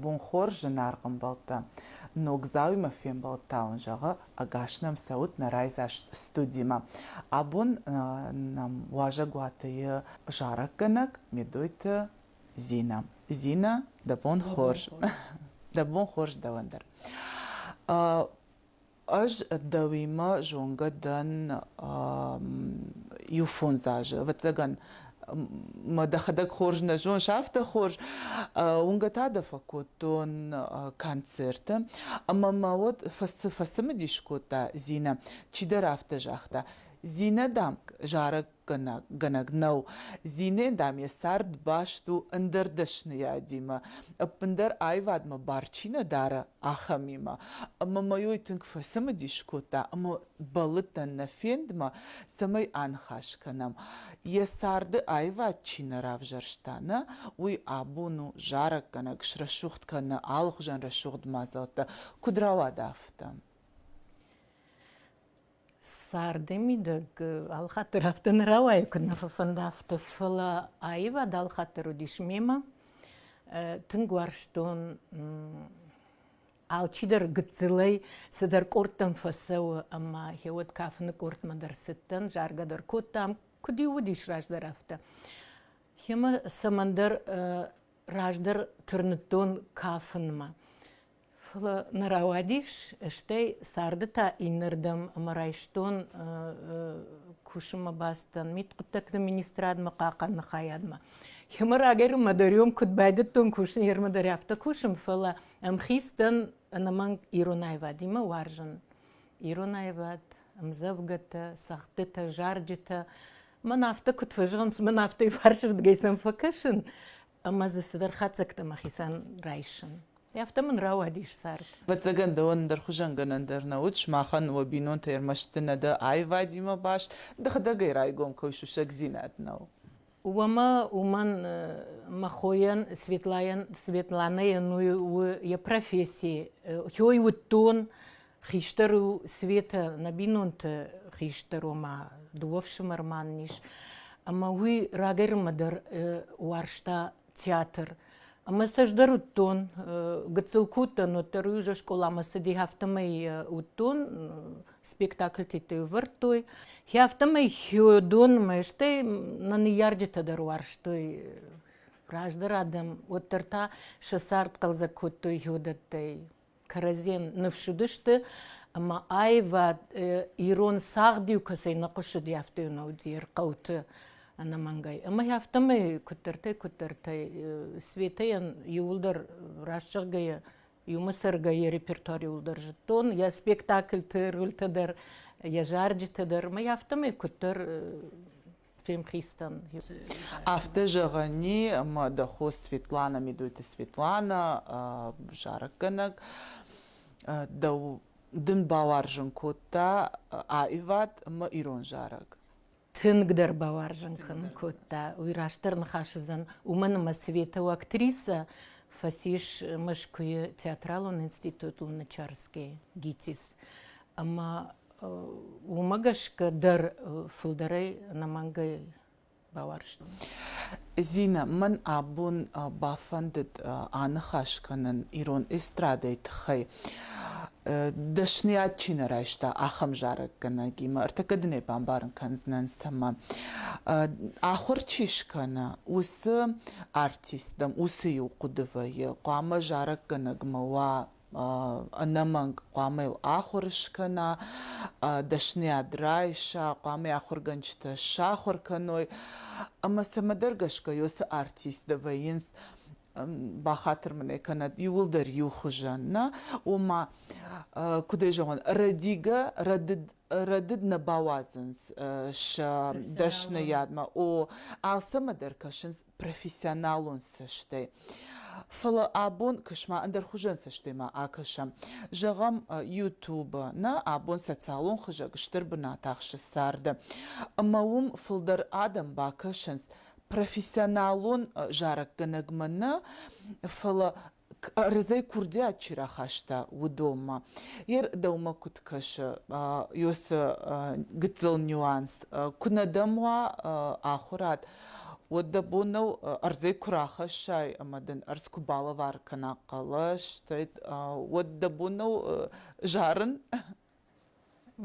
Бонхор зынаргъ ӕмбӕлттӕ! Ногдзауимӕ фембӕлдта уын зӕгъы, ӕгас нӕм цӕут нӕ райдзаст студимӕ. Абон нӕм уазӕгуатыйы зарӕггӕнӕг Медойты Зина. Зина, да бон хорз. Да бон хорз дӕуӕн дӕр. Ӕз дӕуимӕ зонгӕ дӕн иу фондз азы. Ӕвӕццӕгӕн, мӕ дӕхӕдӕг хорз нӕ зоныс, афтӕ хорз. Уынгӕ та дӕ фӕкодтон концерты. Ӕмӕ мӕ уӕд цы фӕцымыдис кодта Зинӕ? Чидӕр афтӕ загъта: Зинӕ, дам, зарӕг фӕтыхгӕнӕггӕнӕг нӕу. Зинӕ, дам, йӕ цард баст у ӕндӕр дӕсныйадимӕ, ӕппындӕр аивадмӕ бар чи нӕ дары, ахӕмимӕ. Ӕмӕ мӕ ой тынг фӕцымыдис кодта ӕмӕ бӕллыдтӕн нӕ фендмӕ, цӕмӕй аныхас кӕнӕм, йӕ царды аивад чи нӕ равзӕрста, нӕ, уый. Абон у зарӕггӕнӕг, срӕсугъд кӕны алыхуызӕн рӕсугъд мадзӕлттӕ, куыд рауад, афтӕ. Царды мидӕг алыхатдӕр афтӕ нӕ рауайы, куыд нӕ фӕфӕнды афтӕ. Фӕлӕ аивад алыхатдӕр уыдис мемӕ. Тынг уарзтон алчидӕр гыццылӕй цыдӕр къордтӕм фӕцӕуы ӕмӕ йӕ уӕд кафыны къордмӕ дӕр цыдтӕн, заргӕ дӕр кодтам, куыд-иу уыдис раздӕр афтӕ. Йемӕ цӕмӕндӕр раздӕр тырныдтон кафынмӕ. Фӕлӕ нӕ рауадис, стӕй царды та иннӕрдӕм ӕмӕ райстон кусынмӕ бацыдӕн мидхъуыддӕгты министрадмӕ хъахъӕныны хайадмӕ. Йемӕ рагӕй-ма дӕр ем куыд байдыдтон кусын, йемӕ дӕр афтӕ кусын, фӕлӕ ӕмхиц дӕн ӕнӕмӕнг ирон аивадимӕ уарзын. Ирон аивад, ӕмдзӕвгӕтӕ, цӕгъдтытӕ, зарджытӕ. Мӕн афтӕ куыд фӕзӕгъынц, мӕн афтӕ фарсырдыгӕй сӕм фӕкӕсын, ӕмӕ дзы цыдӕр хатдзӕгтӕ мӕхицӕн райсын. Афтӕ мын рауадис цард. Ӕвӕццӕгӕн дӕуӕн ӕндӕр хуызӕнгӕнӕн дӕр нӕ уыд, сымахӕн уӕ бинонтӕй ӕрмӕст нӕ дӕ аивадимӕ баст, дыгъдӕгӕй райгом кӕуы сусӕгдзинад нӕу. Уомӕ уымӕн мӕ хойӕн Светлайӕн Светланӕйӕн у йӕ професси. Той уыдтон Хистӕр у Светӕ нӕ бинонты хистӕр, ома дыууӕ фсымӕрман ис. Ӕмӕ уый рагӕрынмӕ дӕр уарзта театр. Ӕмӕ сӕ ӕз дӕр уыдтон, гыццыл куы уыдтӕн, уӕддӕр уый уже скъоламӕ цыди, афтӕмӕй уыдтон, спектакльтӕ ӕвӕрдтой. Хи афтӕмӕй хиодонмӕ, стӕй нӕ ныййарджытӕ дӕр уарзтой раздӕр адӕм, уӕддӕр та сӕ цард хъӕлдзӕг кодтой хиодӕттӕй. кӕрӕдзийӕн ныфс уыдысты ӕмӕ аивад ирон цагъд-иу кӕцӕй нӕ хъуысыди афтӕ уынаудзы хъӕуты ӕнӕмӕнгӕй ӕмӕ афтӕмӕй куыддӕртӕй куыддӕртӕй светӕйӕн иуылдӕр раст зӕгъгӕйӕ иумӕ цӕргӕйӕ репертуариуыл дӕр зыдтон йӕ спектакльты рольтӕ дӕр йӕ зарджытӕ дӕр ӕмӕ афтӕмӕй куыддӕр Афтӕ зӕгъӕни ма дӕ хо Светлана Медойты Светлана зарӕггӕнӕг дӕу дын бауарзын кодта аивад ӕмӕ ирон зарӕг. Тынгдӕр бауарзын кӕнын кодта. Уый растдӕр ныхас уыдзӕн, уымӕн ӕмӕ световы актрисӕ фӕцис Мӕскуыйы театралон институт у Нычарскӕй ГИТИС. Ӕмӕ уымӕ гӕсгӕ дӕр фылдӕрӕй ӕнӕмӕнгӕй бауарзтон. Зинӕ, мӕн абон бафӕндыд аныхас кӕнын ирон эстрадӕйы тыххӕй. Дӕсныйад чи нӕ райста, ахӕм зарӕггӕнӕгимӕ ӕртыккаг дунейы бамбарын кӕндзынӕн цӕмӕ. Ахуыр чи скӕна, уыцы артистӕм, уыцы иу хъуыды вӕййы, хъуамӕ зарӕггӕнӕгмӕ уа ӕнӕмӕнг хъуамӕ йыл ахуыр скӕна, дӕсныйад райса, хъуамӕ йӕ ахуыргӕнджытӕ сахуыр кӕной. Ӕмӕ цӕмӕдӕр гӕсгӕ уыцы артисттӕ вӕййынц бахатыр мын ӕй кӕнӕд иуылдӕр иу хуызӕн, нӕ? Ома, куыд ӕй зӕгъон, рӕдигӕ, рӕдыд рӕдыд нӕ бауадзынц сӕ дӕсныйадмӕ. О, алцӕмӕ дӕр кӕсынц профессионалон цӕстӕй. Фӕлӕ абон кӕсма ӕндӕр хуызӕн цӕстӕйма акӕсӕм. Зӕгъӕм, YouTube-ы нӕ абон социалон хызӕг стыр бынат ахсы царды. Ӕмӕ уым фылдӕр адӕм бакӕсынц профессионалон зарӕггӕнӕгмӕ нӕ, фӕлӕ кӕрдзӕй курдиат чи рахаста, уыдонмӕ. Йе рдӕумӕ куыд кӕсы, ёсы гыццыл нюанс, куынӕ дӕм уа ахуырад, уӕд дӕ бон нӕу ӕрдзӕй куы рахӕссай ӕмӕ дын ӕрдз куы балӕвар кӕна хъӕлӕс, уӕд дӕ бон нӕу зарын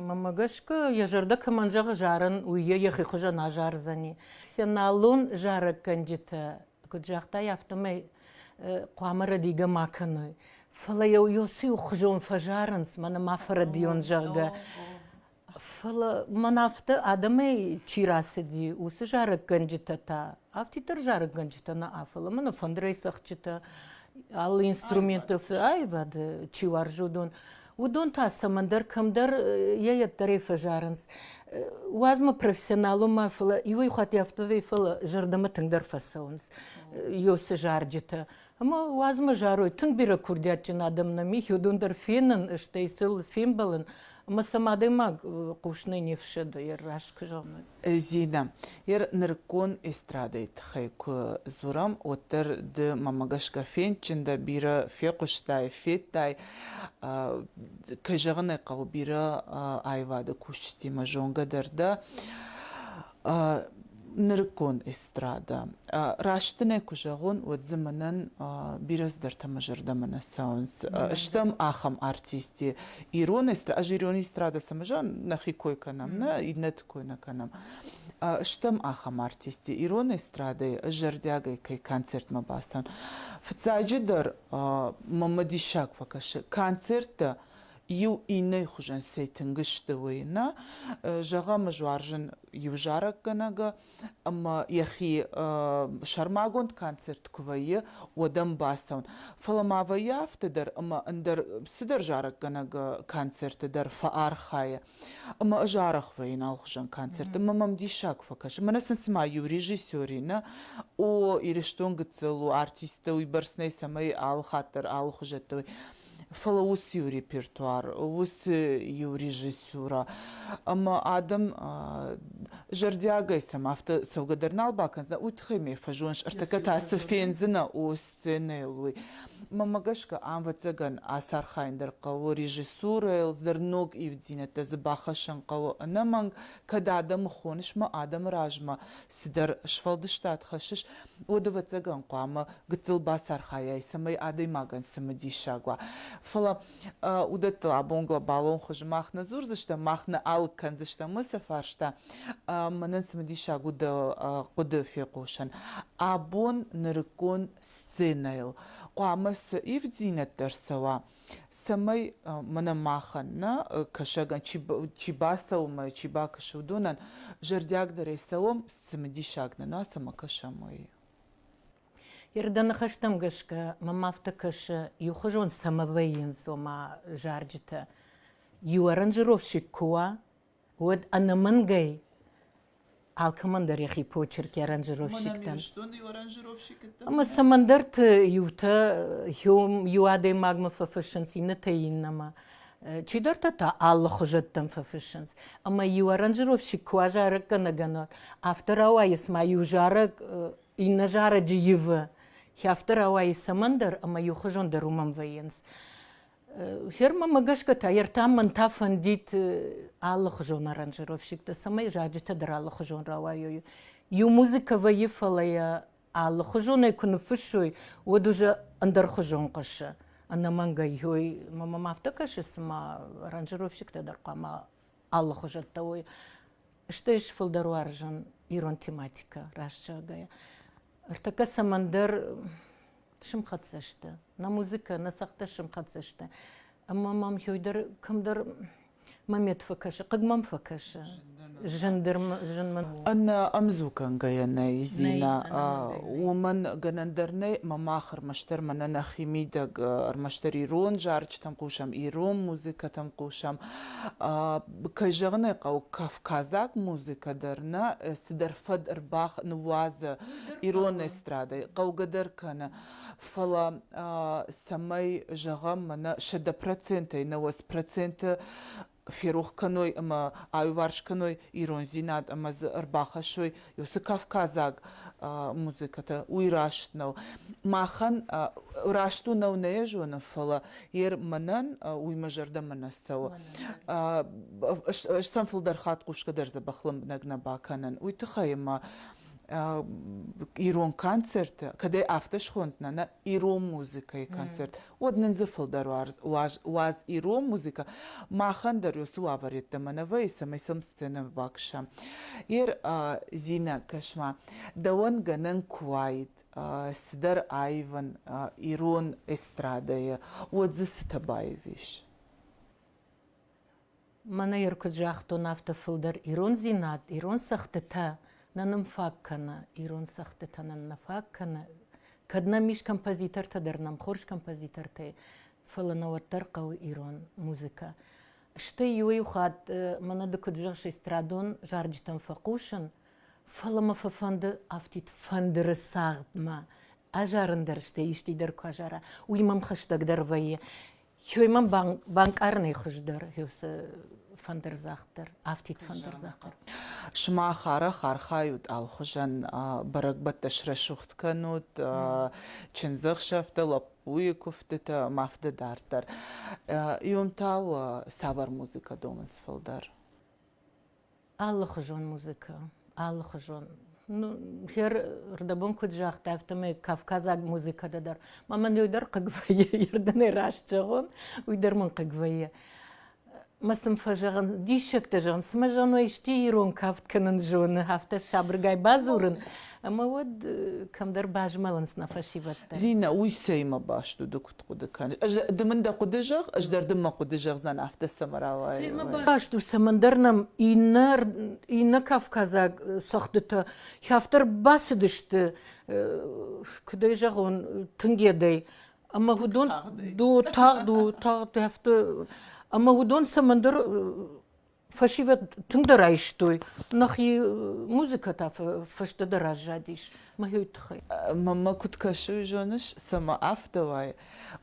Мамӕ гӕсгӕ йӕ зӕрдӕ кӕмӕн зӕгъы зарын, уый йӕ йӕхи хуызӕн азардзӕни. Сеналон зарӕггӕнджытӕ куыд загътай, афтӕмӕй хъуамӕ рӕдигӕ ма кӕной. Фӕлӕ йӕ йосы иухуызон фӕзарынц, мӕнӕ ма фӕрӕдийон, зӕгъгӕ. Фӕлӕ мӕн афтӕ, адӕмӕй чи рацыди, уыцы зарӕггӕнджытӕ та Афтиддӕр зарӕггӕнджытӕ нӕ фӕлӕ мӕ фӕндырӕй цӕгъдджытӕ, алы инструменттыл цы аивады чи уарзодон, уыдон та цӕмӕндӕр кӕмдӕр йӕ ӕддӕрӕй фӕзарынц. Уадзмӕ профессионалон ма фӕлӕ иуӕй хатт афтӕ фӕлӕ зӕрдӕмӕ тынгдӕр фӕцӕуынц ёсы зарджытӕ. Ӕмӕ уадзмӕ зарой тынг бирӕ курдиатджын адӕм нӕм и, уыдон дӕр фенын, стӕй сыл фембӕлын, ӕмӕ сӕм адӕймаг хъусынӕй не фсӕды йӕ раст куы зӕгъны. Зинӕ, йӕ нырыккон эстрадӕйы тыххӕй куы дзурӕм, уӕддӕр ды мӕмӕ гӕсгӕ фендджын дӕ, бирӕ фехъуыстай, федтай. Кӕй зӕгъын ӕй хъӕуы, бирӕ аивады кусджытимӕ зонгӕ дӕр дӕ. нырыккон эстрада. Раст нӕ куы зӕгъон, уӕд дзы мӕнӕн бирӕ цыдӕртӕ мӕ зӕрдӕмӕ нӕ цӕуынц. Стӕм ахӕм артисти ирон эстрада, ӕз ирон эстрадӕ цӕмӕзӕгъын нӕхи кой кӕнӕм, нӕ иннӕты кой нӕ кӕнӕм. Стӕм ахӕм артисти ирон эстрадӕйы ӕз зӕрдиагӕй кӕй концертмӕ бацӕн. Фыццаджыдӕр мӕ мӕ диссаг фӕкӕсы концерттӕ иу иннӕйы хуызӕн цӕй тынг сты, уый нӕ зӕгъӕм, зуарзын иу зарӕггӕнӕг ӕмӕ йӕхи сӕрмагонд концерт куы вӕййы, уӕд ӕм бацӕуын. Фӕлӕ ма вӕййы афтӕ дӕр, ӕмӕ ӕндӕр цыдӕр зарӕггӕнӕг концерты дӕр фӕархайы. Ӕмӕ ӕз арӕх вӕййын алыхуызон концерт, ӕмӕ мӕм диссаг куы фӕкӕсы. Мӕнӕ сын цыма иу режиссер и, нӕ? О, Ирыстон гыццыл у, артисттӕ уыйбӕрц нӕй, цӕмӕй алы хатт дӕр алыхуызӕттӕ уой. фӕлӕ уыцы-иу репертуар, уыцы-иу режиссура ӕмӕ адӕм зӕрдиагӕй сӕм афтӕ цӕугӕ дӕр нал бакӕндзынӕ, уый тыххӕй мӕ фӕзоныс, ӕртӕккӕ та цы фендзынӕ о сценӕйыл, уый. Мӕмӕ гӕсгӕ ӕвӕццӕгӕн ацархайын дӕр хъӕуы режиссурӕйыл, дӕр ног ивддзинӕдтӕ дзы бахӕссын хъӕуы ӕнӕмӕнг, кӕд адӕмы хоныс мӕ адӕмы размӕ, цыдӕр сфӕлдыстад хӕссыс, уӕд, ӕвӕццӕгӕн, хъуамӕ гыццыл бацархайай, цӕмӕй адӕймагӕн цымыдисаг уа. Фӕлӕ уыдӕттыл абон глобалон хуызы мах нӕ дзурдзыстӕм, мах нӕ алыг кӕндзыстӕм уыцы фарста, мӕнӕн цымыдисаг у дӕ хъуыды фехъусын. Абон нырыккон сценӕйыл хъуамӕ цы ивддзинӕдтӕ ӕрцӕуа, цӕмӕй мӕнӕ махӕн нӕ кӕсӕгӕн чи бацӕуы чи бакӕсы уыдонӕн зӕрдиагдӕрӕй цӕуӕм цымыдисаг нӕ цӕмӕ кӕсӕм уый Ердӕ ныхӕстӕм гӕсгӕ мӕм афтӕ кӕсы, иухуызон цӕмӕ вӕййынц, ома, зарджытӕ. Иу аранжировщик куы уа, уӕд ӕнӕмӕнгӕй алкӕмӕндӕр йӕхи почерк йӕ аранжировщиктӕн. Ӕмӕ цӕмӕндӕрты иутӕ иу адӕймагмӕ фӕфыссынц, иннӕтӕй иннӕмӕ. Чидӕртӕ та алы хуызӕттӕм фӕфыссынц. Ӕмӕ иу аранжировщик куы уа зарӕггӕнӕгӕнӕг, афтӕ рауайы, цыма иу зарӕг иннӕ зарӕджы ивы. Хи афтӕ рауайы цӕмӕндӕр, ӕмӕ иухуызондӕр уымӕн вӕййынц. Фермӕмӕ гӕсгӕ та ертӕм мӕн та фӕндид алыхуызон аранжировщиктӕ, цӕмӕй заджытӕ дӕр алыхуызон рауайой. Иу музыкӕ вӕййы, фӕлӕ йӕ алыхуызонӕй куы ныффыссой, уӕд уже ӕндӕрхуызон хъуысы. Ӕнӕмӕнгӕй, ой, мӕм афтӕ кӕсы, цыма аранжировщиктӕ дӕр хъуамӕ алыхуызӕттӕ уой стӕй сфылдӕр уарзын ирон тематикӕ раст зӕгъгӕйӕ ӕртӕккӕ цӕмӕндӕр сымхӕццӕ сты нӕ музыкӕ нӕ цӕгъдтӕ сымхӕццӕ сты ӕмӕ мӕм хёй дӕр кӕмдӕр момент фӕкӕсы хъыг мӕм фӕкӕсы ӕнӕ ӕмдзу кӕнгӕйӕ нӕй зинӕ уымӕн гӕнӕн дӕр нӕй мӕ мах ӕрмӕстдӕр мӕнӕ нӕхи мидӕг ӕрмӕстдӕр ирон зарджытӕм хъусӕм ирон музыкӕтӕм хъусӕм кӕй зӕгъын ӕй хъӕуы кавказаг музыкӕ дӕр нӕ цыдӕр фӕд ӕрбах ныууадзы ирон эстрадӕй хъӕугӕ дӕр кӕны фӕлӕ цӕмӕй зӕгъӕм мӕнӕ сӕдӕ процентӕй науӕд проценты ферох кӕной ӕмӕ аиуварс кӕной ирондзинад ӕмӕ дзы ӕрбахӕссой уыцы кавказаг музыкӕтӕ уый раст нӕу махӕн раст у нӕу нӕ зонын фӕлӕ ер мӕнӕн уый мӕ зӕрдӕмӕ нӕ цӕуы ӕз сӕм фылдӕр хатт хъусгӕ дӕр дзӕбӕх лӕмбынӕг нӕ бакӕнын уый тыххӕй ӕмӕ ирон концерты кӕдӕй афтӕ схондзынӕ нӕ ирон музыкӕйы концерт, уӕд нын дзы фылдӕр уаз, уаз ирон музыкӕ. Махӕн дӕр уыцы уавӕрӕдтӕ мӕнӕвӕйы, цӕмӕй сӕм сценӕмӕ бакӕсӕм. Ер, Зинӕ, кӕс-ма, дӕуӕн гӕнӕн куы уаид цыдӕр аивын ирон эстрадӕйы, уӕд дзы цытӕ баивис? Мӕнӕ йӕ куыд загътон, афтӕ фылдӕр ирондзинад, ирон цӕгъдтытӕ нӕ нын фаг кӕны, ирон цӕгъдтытӕ нын нӕ фаг кӕны. Кӕд нӕм ис композитортӕ дӕр, нӕм хорз композитортӕй, фӕлӕ нӕ уӕддӕр хъӕуы ирон музыкӕ. Стӕй иуӕй-иу хатт мӕнӕ ды куыд зӕгъыс, эстрадон зарджытӕм фӕхъусын, фӕлӕ мӕ фӕфӕнды афтид фӕндыры цагъдмӕ азарын дӕр, стӕй исчи дӕр куы азара, уый мӕм хӕстӕгдӕр вӕййы. Хьой мӕ банкъарынӕй хуыздӕр уыцы фӕндырдзагъд дӕр, афтид фӕндырдзагъд дӕр. Сымах арӕх архайут алхуызӕн бӕрӕгбӕттӕ срӕсугъд кӕнут чындзӕхсӕвтӕ, лӕппуйы куывдтытӕ, ма фыды дарддӕр. Иом та у цавӕр музыкӕ домынц фылдӕр? алыхуызон музыкӕ, алыхуызон. Ну, рдӕбон куыд загъта, афтӕмӕй кавказаг музыкӕдӕ дӕр. Ма мӕн уый дӕр хъыг вӕййы, ердынӕй раст зӕгъон, уый дӕр мын хъыг вӕййы. Мӕ сын фӕзӕгъын, диссӕгтӕ зӕгъын, цымӕ зоной исчи ирон кафт кӕнын зоны, афтӕ сабыргай бадзурын, ӕмӕ уӕд кӕмдӕр базмӕлынц нӕ фӕсивӕдтӕ. Зинӕ, уый цӕимӕ баст уыд? хъуыды кӕны. Ӕз ды мын дӕ хъуыды зӕгъ, ӕз дӕр дын мӕ хъуыды зӕгъдзӕн афтӕ цӕмӕ Баст у цӕмӕндӕр нӕм иннӕ иннӕ кавказаг цӕгъдтытӕ хӕфтӕр бацыдысты, куыд ӕй зӕгъон, тынгедӕй. Ӕмӕ уыдон тагъд у, тагъд у, тагъд хӕфты ӕмӕ уыдон цӕмӕндӕр Фӕсивӕд тынгдӕр айстой, нӕхи музыкӕ та фӕстӕдӕр аззадис мӕ тыххӕй. Маммӕ куыд кӕсы, уый зоныс? Цӕмӕ афтӕ уай,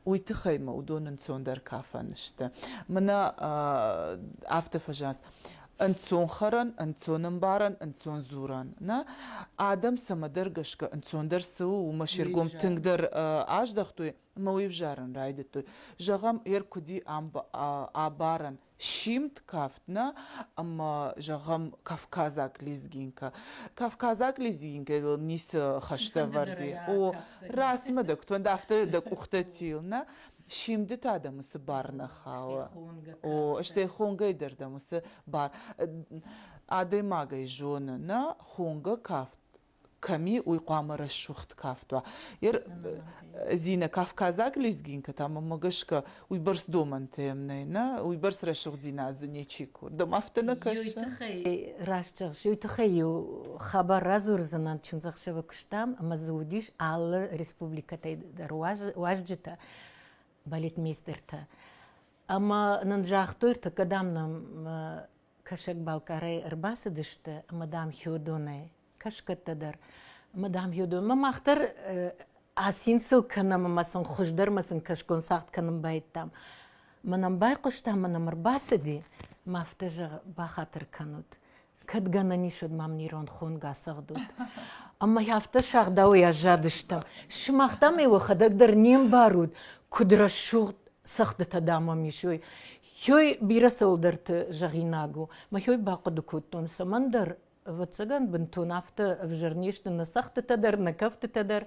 уый тыххӕй мӕ уыдон ӕнцондӕр кафӕн сты. Мӕнӕ афтӕ фӕзӕнс. Ӕнцон хӕрӕн, ӕнцон ӕмбарӕн, ӕнцон дзурӕн. Нӕ адӕм цӕмӕдӕр гӕсгӕ ӕнцондӕр цы у, уымӕ се ргом тынгдӕр аздӕхтой мӕ уый ӕвзарын райдыдтой. Зӕгъӕм, ӕр куыди амбарӕн. симд кафтна ӕмӕ зӕгъӕм кавказаг лезгинка кавказаг лезгинкӕйыл ницы хӕстӕвӕрди о расимӕ дӕ куы афтӕ дӕ къухтӕ тил нӕ симды та дӕ мысы бар нӕ хауы о стӕй хонгӕй дӕр дӕ мысы бар адӕймагӕй зоны нӕ хонгӕ кафт кӕми уый хъуамӕ рӕсугъд кафт уа ер зинӕ кавказаг лезгинкӕтӕ мӕмӕ гӕсгӕ уыйбӕрц домӕнтӕ ем нӕй нӕ уыйбӕрц рӕсугъддзинад дзы ничи курд дом афтӕ нӕ кӕсы раст зӕгъыс уый тыххӕй-иу хабар радзурдзынӕн чындзӕхсӕвы куыстам ӕмӕ дзы уыдис алы республикӕтӕй дӕр уазджытӕ балетмейстертӕ ӕмӕ нын загътой тыгкӕ дам нӕм Кӕсӕг-Балкъарӕй ӕрбацыдысты ӕмӕ, дам, Хёдонӕй кӕсгӕттӕ дӕр. Ӕмӕ, дам, Хёдонмӕ мах дӕр асин сыл кӕнӕм ӕмӕ сын хуыздӕр ӕмӕ сын кӕсгон цагъд кӕнын баидтам. Ма нӕм байхъуыстам, ма нӕм ӕрбацыди, ма афтӕ, зӕгъы, бахатыр кӕнут. Кӕд гӕнӕн ис, уӕд мӕм ирон хонг ацӕгъдут. Ӕмӕ афтӕ сагъдауӕй аззадыстӕм. Сымах, дам, уӕхӕдӕг дӕр не мбарут, куыд рӕсугъд цӕгъдытӕ, дам, уӕм ис, ой. Хёй бирӕ цӕуылдӕрты зӕгъинаг у. Мӕхёй бахъуыды кодтон, цӕмӕндӕр ӕвӕццӕгӕн бынтон афтӕ ӕвзӕр не сты нӕ цӕгъдтытӕ дӕр, нӕ кӕфтытӕ дӕр,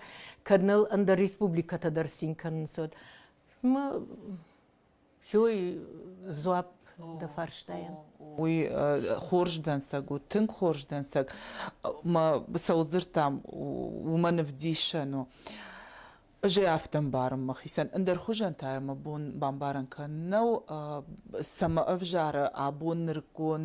кӕд ныл ӕндӕр республикӕтӕ дӕр цин кӕнынц, уӕд. Мӕ хёй дзуапп дӕ фарстайӕн. Уый хорз дӕнцӕг у, тынг хорз дӕнцӕг. Мӕ сӕудзырдтӕм уымӕн ӕвдисӕн у. Ӕз ӕй афтӕ ӕмбарын мӕхицӕн. Ӕндӕр хуызӕн та мӕ бон бамбарӕн кӕнын нӕу, цӕмӕ ӕвзары абон нырыккон,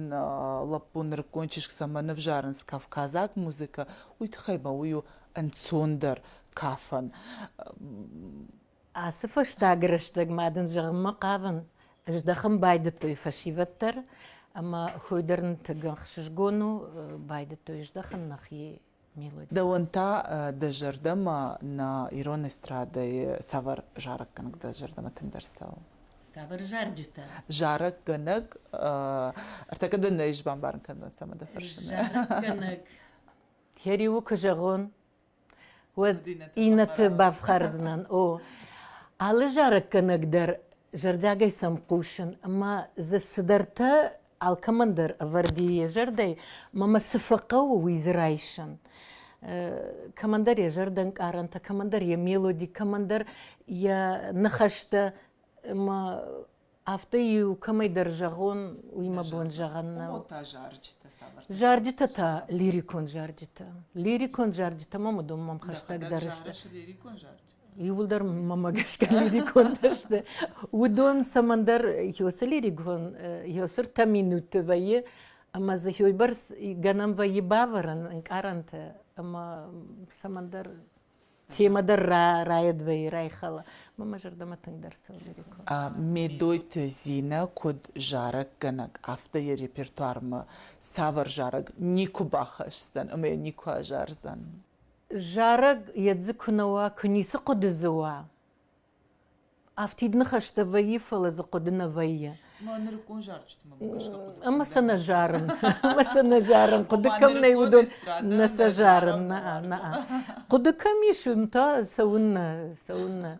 лӕппун нырыккон чызг цӕмӕ нывзарынц кавказаг музыкӕ, уый тыххӕй мӕ уый у ӕнцондӕр кафӕн. Ацы фӕстаг рӕстӕгмӕ дын зӕгъынмӕ хъавын, ӕздӕхын байдыдтой фӕсивӕд дӕр ӕмӕ хуый дӕр нытыгӕн хсызгон у, байдыдтой здӕхын нӕхи Дӕуӕн та дӕ зӕрдӕмӕ нӕ ирон эстрадӕйы цавӕр зарӕггӕнӕг дӕ зӕрдӕмӕ тынгдӕр цӕуы? Цавӕр зарджытӕ? Зарӕггӕнӕг ӕртӕкӕ дӕ нӕ ис бамбарын кӕнын, цӕмӕ дӕ фӕрсын. Зарӕггӕнӕг. Я риу куы зӕгъон, уӕд иннӕты бафхӕрдзынӕн. О, алы зарӕггӕнӕг дӕр зӕрдиагӕй сӕм хъусын, ӕмӕ дзы цыдӕртӕ алкӕмӕн дӕр ӕвӕрди йӕ зӕрдӕй, мӕмӕ цы фӕхъӕуы, уый дзы райсын. Кӕмӕндӕр йӕ зӕрдӕнкъарӕнтӕ, кӕмӕндӕр йӕ мелоди, кӕмӕндӕр йӕ ныхӕстӕ мӕ афтӕ-иу кӕмӕйдӕр зӕгъон, уый мӕ бон зӕгъӕн нӕу. Зарджытӕ та лирикон зарджытӕ. Лирикон зарджытӕ мӕм уыдон мӕм хӕстӕгдӕр сты. иууылдӕр мамӕ гӕсгӕ лирикондӕр сты уыдон цӕмӕндӕр хьосы лирикон хьосыртӕ минутты вӕййы ӕмӕ дзы хьойбӕрц гӕнӕн вӕййы бавӕрын ӕнкъарӕнты ӕмӕ цӕмӕндӕр темӕ дӕр райӕд вӕййы райхала мамӕ зӕрдӕмӕ тынгдӕр цӕуы лирикон медойты зинӕ куыд зарӕггӕнӕг афтӕ йӕ репертуармӕ цавӕр зарӕг никуы бахӕсдзӕн ӕмӕ йӕ никуы азардзӕн Зарӕг йӕ дзы куы нӕ уа, куы ницы хъуыды дзы уа, афтид ныхӕстӕ вӕййы, фӕлӕ дзы хъуыды нӕ вӕййы. Ма нырыккон зарджытимӕ гӕсгӕ хъуыды Ӕмӕ сӕ нӕ зарын. Ӕмӕ сӕ нӕ зарын, хъуыды кӕм нӕй, уыдон нӕ сӕ зарын. Нӕ, нӕ. Хъуыды кӕм ис, уым та цӕуыннӕ, цӕуыннӕ.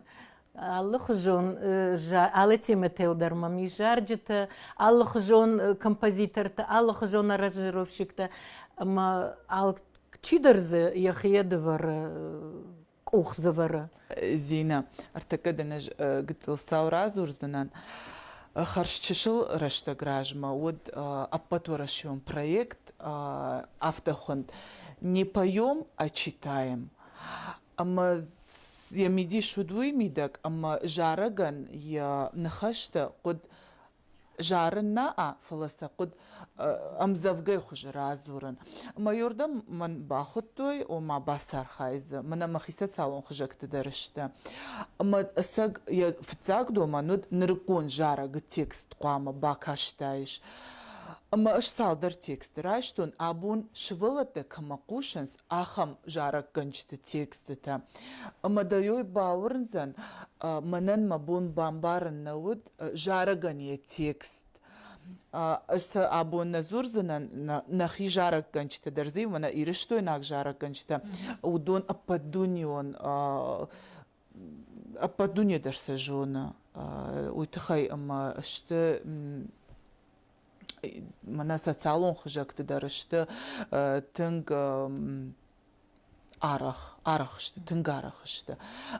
Алыхуызон алы темӕтыл дӕр мӕм ис зарджытӕ, алыхуызон композиторты, алыхуызон аранжировщиктӕ ӕмӕ алчидӕр дзы йӕхи дывӕры къухдзывӕры. Зинӕ, ӕртӕккӕ дын ӕз гыццыл цау радзурдзынӕн. Хӕрз чысыл рӕстӕг размӕ уыд ӕппӕтуӕрӕсеон проект Автохуынд Не поем, а читаем. Ӕмӕ йӕ мидис уыд уый мидӕг, ӕмӕ зарӕгӕн йӕ ныхӕстӕ хъуыд зарын наӕ, фӕлӕ сӕ хъуыд ӕмдзӕвгӕйы хуызы радзурын. Майордӕм мӕн бахуыдтой, ома бацархай дзы, мӕнӕ мӕхицӕн цалон хызӕгты дӕр сты. Ӕмӕ ӕцӕг йӕ фыццаг домӕн уыд нырыккон зарӕгы текст хъуамӕ бакастаис. Ӕмӕ ӕз цалдӕр тексты райстон, абон сывӕллӕттӕ кӕмӕ хъусынц, ахӕм зарӕггӕнджыты текстытӕ. Ӕмӕ дӕ-йой бауырндзӕн, мӕнӕн мӕ бон бамбарын нӕ уыд зарӕгӕн йӕ текст. Ӕз сӕ абон нӕ дзурдзынӕн, нӕхи зарӕггӕнджытӕ дӕр дзы иу мӕнӕ ирыстойнаг зарӕггӕнджытӕ уыдон ӕппӕтдунеон ӕппӕт дуне дӕр сӕ зоны уый тыххӕй ӕмӕ сты мӕнӕ социалон хызӕгты дӕр сты тынг арӕх арӕх сты тынг арӕх сты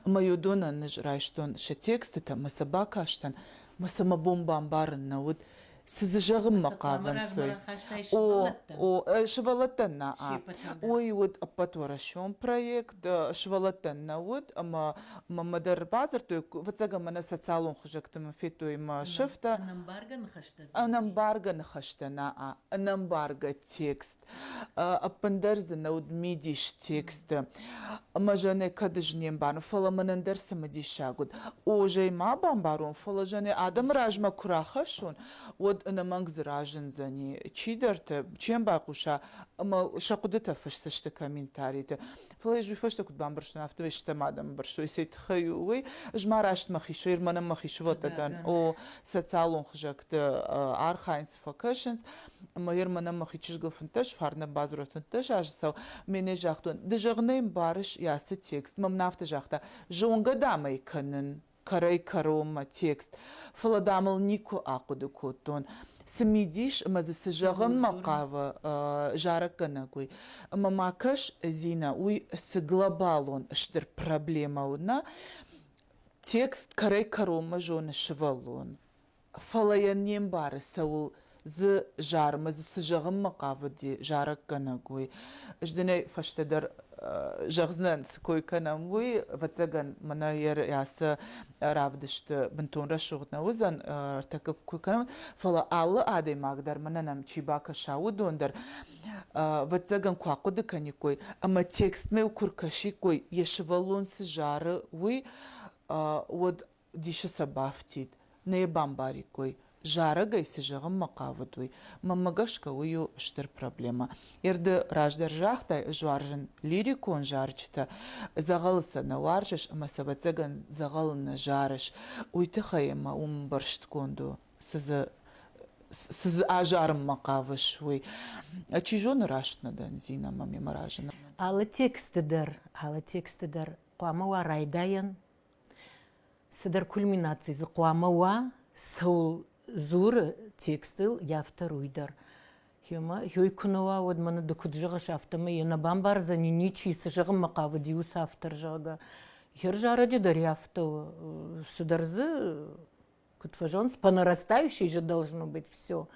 ӕмӕ уыдонӕн ӕз райстон сӕ текстытӕ мӕ сӕ бакастӕн мӕ сӕ мӕ бон бамбарын нӕ уыд Цы дзы зӕгъынмӕ хъавӕнцой? О, сывӕллӕттӕн на'a. Уый уыд ӕппӕтуӕрӕсеон проект, сывӕллӕттӕн нӕ уыд, ӕмӕ мӕ дӕр бадзырдтой, ӕвӕццӕгӕн мӕнӕ социалон хызӕгты мын федтой мӕ сӕфтӕ. Ӕнӕмбаргӕ ныхӕстӕ на'a. Ӕнӕмбаргӕ текст. ӕппындӕр дзы нӕ уыд мидис тексты ӕмӕ Жаннӕ кӕд ӕз не мбарын, фӕлӕ мӕнӕн дӕр цымыдисаг уыд. О, зӕй ма бамбарон, фӕлӕ Жаннӕ адӕмы размӕ куы рахӕссон, уӕд ӕнӕмӕнг дзы разындзӕни, чидӕртӕ чем байхъуса ӕмӕ сӕ хъуыдытӕ фысдзысты комментариты. Фӕлӕ ӕз уый фӕстӕ куыд бамбӕрстон, афтӕ ӕй стӕм адӕмы бырстой. Цӕй тыххӕй у уый? Ӕз ма рӕстмӕ хиссой, мӕнӕн мӕ хиссувӕллӕттӕн, о, социалон хызӕгты архайынц, куыст фӕкӕсынц ӕмӕ йӕр мӕнӕн мӕхи чызгыл фынддӕс фарнӕ бадзурӕд фынддӕс азы цау ме нӕ загътон ды зӕгъ нӕ йын барыс йӕ ацы текст мӕм нафтӕ загъта зонгӕ дам ӕй кӕнын кӕрӕй кӕронмӕ текст фӕлӕ дам ыл никуы ахъуыды кодтон цы мидис ӕмӕ дзы цы зӕгъынмӕ хъавы зарӕггӕнӕг уый ӕмӕ ма кӕс зинӕ уый цы глобалон стыр проблемӕ у нӕ текст кӕрӕй кӕронмӕ зоны сывӕллон Фӕлӕ йӕ не мбары, цӕуыл дзы зарынмӕ, цы зӕгъынмӕ хъавыди зарӕггӕнӕг, уый. Ӕз дын ӕй фӕстӕдӕр зӕгъдзынӕн, цы кой кӕнӕм, уый. Ӕвӕццӕгӕн, мӕнӕ йӕ сӕ равдысты бынтон рӕсугъд нӕ уыдзӕн, ӕртӕккӕ куы кӕнӕм, фӕлӕ алы адӕймаг дӕр, мӕнӕ нӕм чи бакӕса, уыдон дӕр, ӕвӕццӕгӕн, куы ахъуыды кӕниккой ӕмӕ текстмӕ куы ркӕсиккой, йӕ сывӕллон цы зары, уый, уӕд Дисы сӕ бафтид, нӕ йӕ бамбариккой, зарӕг ӕй, цы зӕгъынмӕ хъавыд, уый. Мӕнмӕ гӕсгӕ, уый у стыр проблемӕ. Ерды раздӕр загътай, ӕз уарзын лирикон зарджытӕ, дзӕгъӕлы сӕ нӕ уарзыс ӕмӕ сӕ ӕвӕццӕгӕн дзӕгъӕлы нӕ зарыс, уый тыххӕй ӕмӕ уым ӕмбӕрстгонд у, цы дзы цы дзы азарынмӕ хъавыс, уый. Чи зоны, раст нӕ дӕн Зинӕмӕ, ме мӕ разы нӕ. Алы тексты дӕр, алы тексты дӕр хъуамӕ уа райдайӕн цыдӕр кульминаци дзы хъуамӕ уа цӕуыл дзуры текстыл йӕ автор уый дӕр йой куы нӕ уа уӕд мӕнӕ ды куыд зӕгъыс афтӕмӕй йӕ нӕ бамбардзӕни ничи цы зӕгъынмӕ хъавыди уыцы автор зӕгъгӕ йе рзарӕджы дӕр йӕ афтӕ цыдӕр дзы Куыд фӕзонс, понарастающий же должно быть все.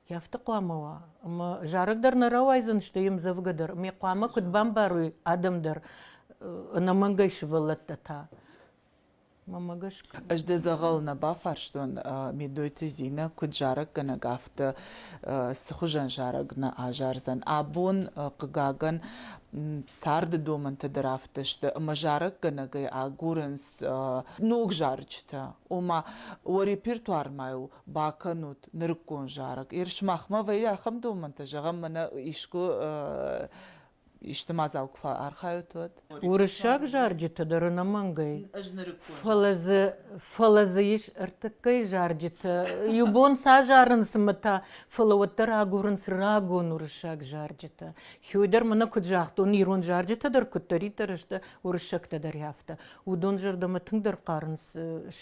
Я афтӕ хъуамӕ уа. Ӕмӕ зарӕг дӕр нӕ рауайдзӕн, сты йе мдзӕвгӕ дӕр. Ме хъуамӕ куыд бамбарой адӕм дӕр ӕнӕмӕнгӕй сывӕллӕттӕ та. Мамӕ гӕсгӕ. Ӕз дӕ дзӕгъӕл нӕ бафарстон, Медойты Зинӕ, куыд зарӕггӕнӕг, афтӕ цы хуызӕн зарӕг нӕ азардзӕн. Абон, хъыгагӕн, царды домӕнтӕ дӕр афтӕ сты, ӕмӕ зарӕггӕнӕгӕй агурынц ног зарджытӕ, ома уӕ репертуармӕ у бакӕнут нырыккон зарӕг. Ир сымахмӕ вӕййы ахӕм домӕнтӕ, зӕгъӕм, мӕнӕ искуы исты мадзал куы фӕархайут, уӕд? Уырыссаг зарджыты дӕр ӕнӕмӕнгӕй. Ӕз нырыккон. Фӕлӕ дзы, фӕлӕ дзы ис ӕртыккӕй зарджыты. Иу бон сазарын цымӕ та, фӕлӕ уӕддӕр агурынц рагон уырыссаг зарджытӕ. Хёдер мына куыд загъта, уын ирон зарджытӕ дӕр куыддӕриддӕр сты, уырыссӕгтӕ дӕр афтӕ, уыдон зӕрдӕмӕ тынгдӕр хъарынц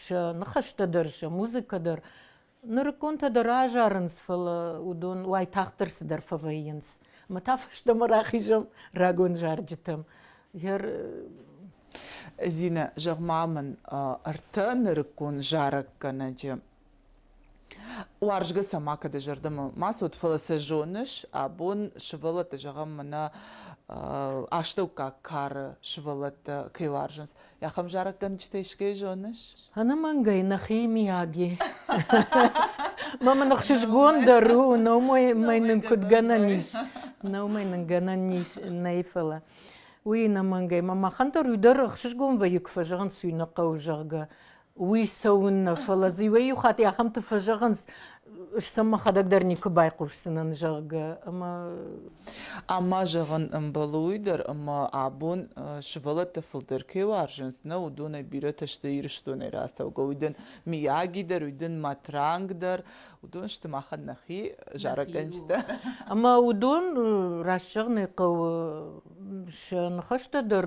сӕ ныхӕстӕ дӕр, сӕ музыкӕ дӕр. Нырыкконтӕ дӕр азарынц, фӕлӕ уыдон уайтагъддӕр цыдӕр фӕвӕййынц. Ӕмӕ та фӕстӕмӕ рахизӕм рагон зарджытӕм. Зинӕ, зӕгъ-ма мын ӕртӕ нырыккон зарӕггӕнӕджы Уарзгӕ сӕ макӕд зӕрдӕмӕ ма цот, фӕлӕ сӕ зоныс, абон сывӕллӕтты, зӕгъӕм, мӕнӕ астӕуккаг кары сывӕллӕттӕ кӕй уарзынц. Ахӕм зарӕггӕнджытӕй сгӕй зоныс? Ӕнӕмӕнгӕй нӕхи миӕг и. Ма мын ӕхсызгон дӕр у, номӕй нын куыд гӕнӕн ис. Номӕй нын гӕнӕн ис нӕй, фӕлӕ уый ӕнӕмӕнгӕй. Мӕ махӕн дӕр уый дӕр ӕхсызгон вӕййы, куы фӕзӕгъын, цui нӕ хъӕуы, зӕгъгӕ. уый цӕуын нӕ, фӕлӕ дзы иуӕй-иу хатт ахӕмты фӕзӕгъынц, сӕм мӕхӕдӕг дӕр никуы байхъусдзынӕн, зӕгъгӕ. Ӕмӕ ӕмӕ зӕгъын ӕмбӕлы уый дӕр, ӕмӕ абон сывӕллӕттӕ фылдӕр кӕй уарзынц, нӕ уыдонӕй бирӕтӕ сты Ирыстонӕй рацӕугӕ, уый дын Мияги дӕр, уый дын Матранг дӕр, уыдон сты махӕн нӕхи зарӕггӕнджытӕ. Ӕмӕ уыдон, раст зӕгъын ӕй хъӕуы, сӕ ныхӕстӕ дӕр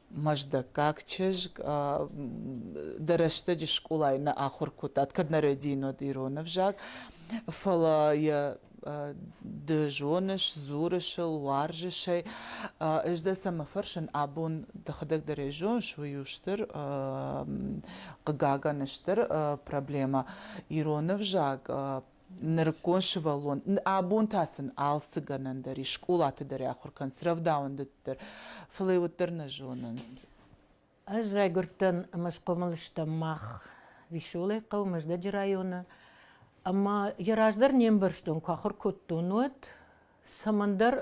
Мӕздӕггаг чызг дӕ рӕстӕджы скъолайы нӕ ахуыр кодтат, кӕд нӕ рӕдийынод ирон ӕвзаг, фӕлӕ йӕ ды зоныс, дзурыс ыл, уарзыс ӕй. Ӕз дӕ цӕмӕ фӕрсын, абон дӕхӕдӕг дӕр ӕй зоныс, уый у стыр, хъыгагӕн, стыр проблемӕ. Ирон ӕвзаг нырыккон сывӕллон, абон та сын алцы гӕнӕн дӕр ис, скъолаты дӕр ахуыр кӕнынц, рӕвдауӕндыты дӕр, фӕлӕ йӕ уӕддӕр нӕ зонынц. Ӕз райгуырдтӕн ӕмӕ схъомыл стӕм мах Веселый хъӕу Мӕздӕджы районы, ӕмӕ йӕ раздӕр не мбӕрстон, куы ахуыр кодтон, уӕд. Цӕмӕндӕр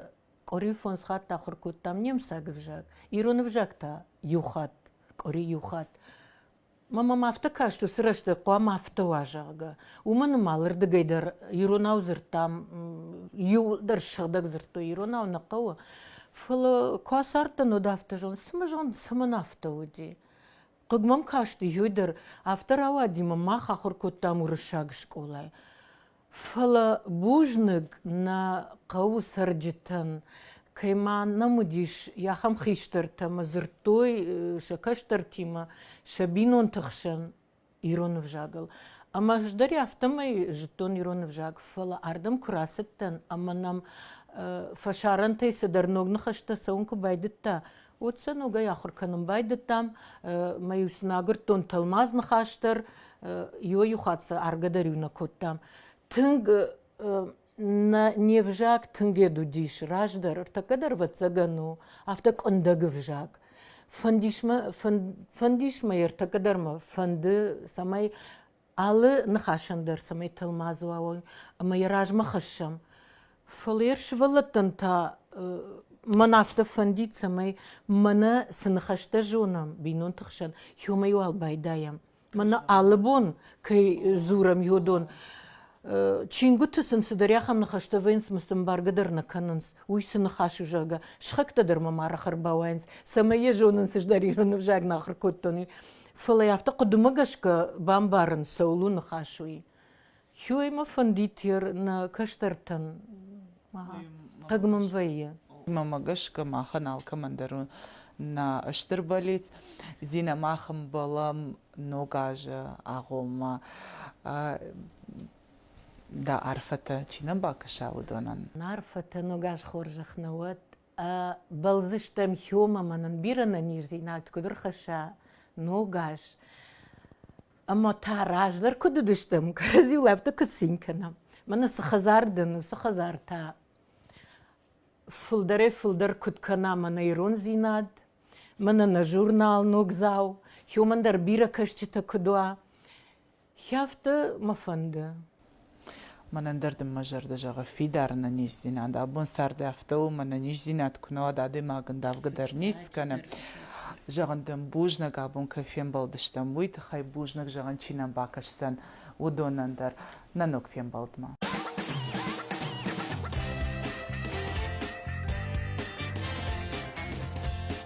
къуыри фондз хатт ахуыр кодтам немыцаг ӕвзаг, ирон ӕвзаг та иу хатт, къуыри иу хатт. Ма мӕм афтӕ каст уыцы рӕстӕг хъуамӕ афтӕ уа, зӕгъгӕ. Уымӕн ӕмӕ алырдыгӕй дӕр иронау дзырдтам, иу дӕр сыгъдӕг дзырдтой иронау нӕ хъӕуы. Фӕлӕ куы ацардтӕн, уӕд афтӕ зон, цымӕ зон, цӕмӕн афтӕ уыди? Хъыг мӕм касти, иу дӕр. Афтӕ рауади, мӕ мах ахуыр кодтам уырыссаг скъолайы. Фӕлӕ бузныг нӕ хъӕуы цӕрджытӕн, кӕй ма нӕм уыдис ахӕм хистӕртӕ ӕмӕ дзырдтой сӕ кӕстӕртимӕ сӕ бинонты хсӕн ирон ӕвзагыл. Ӕмӕ ӕз дӕр афтӕмӕй зыдтон ирон ӕвзаг, фӕлӕ ардӕм куы рацыдтӕн ӕмӕ нӕм фӕсарӕнтӕй цыдӕр ног ныхӕстӕ цӕуын куы байдыдта, Уӕд сӕ ногӕй ахуыр кӕнын байдыдтам. Мӕ-иу сын агуырдтон тӕлмац ныхас дӕр, иу-иу хатт сӕ аргӕ дӕр-иу нӕ кодтам. Тынг нӕ не взаг тынгӕд уыдис раздӕр, ӕртӕккӕ дӕр ӕвӕццӕгӕн у, афтӕ къуындӕг ӕвзаг. Фӕндис мӕ, фӕндис мӕ ӕртӕккӕ дӕр мӕ фӕнды, цӕмӕй Алы ныхасӕн дӕр цӕмӕй тӕлмац уа уой ӕмӕ йӕ размӕ хӕссӕм. Фӕлӕ йӕ сывӕллӕттӕн та мӕн афтӕ фӕндид, цӕмӕй мӕнӕ цы ныхӕстӕ зонӕм бинонты хсӕн, иумӕ уал байдайӕм. Мӕнӕ алы бон кӕй дзурӕм йодон, чингуыты сын цыдӕр ахӕм ныхӕстӕ вӕййынц, ӕмӕ сын бӕргӕ дӕр нӕ кӕнынц. Уый цы ныхас у, зӕгъгӕ, сыхӕгтӕ дӕр мӕм арӕх ӕрбауайынц, цӕмӕй йӕ зонын, цыдӕр ирон ӕвзаг нӕ ахуыр кодтон, уый. Фӕлӕ афтӕ хъуыдымӕ гӕсгӕ бамбарын цӕуыл у ныхас уый. Хиуӕймӕ фӕндид йӕ нӕ кӕстӕртӕн. Таг мын вӕййы. Мӕмӕ гӕсгӕ махӕн алкӕмӕн дӕр у нӕ стыр болит. Зинӕ мах ӕмбӕлӕм ног азы агъоммӕ. Дӕ арфӕтӕ чи нӕ бакӕса, уыдонӕн. Арфӕтӕ ног аз хорзӕх нӕ уӕд. Бӕлдзыстӕм хьом ӕмӕ нын бирӕ нӕниздзинад куыд ӕрхӕсса ногаз. Ӕмӕ та раздӕр куыд уыдыстӕм, кӕрӕдзиуыл афтӕ куыд цин кӕнӕм. Мӕнӕ цы хӕдзар дын, уыцы хӕдзар та фылдӕрӕй фылдӕр куыд кӕна мӕнӕ ирондзинад, мӕнӕ нӕ журнал Ногдзау, хьомӕн дӕр бирӕ кӕсджытӕ куыд уа. Хӕфтӕ мӕ фӕнды. Мӕнӕн дӕр дын мӕ зӕрдӕ зӕгъы фидар ӕнӕниздзинад. Абон царды афтӕ у, мӕнӕ низдзинад куы нӕ уӕд, адӕймагӕн давгӕ дӕр ницы кӕны. Зӕгъын дын, бузнаг абон кӕй фембӕлдыстӕм, уый тыххӕй бузнаг зӕгъын чи нӕм бакӕсдзӕн, уыдонӕн дӕр. Нӕ ног фембӕлдмӕ.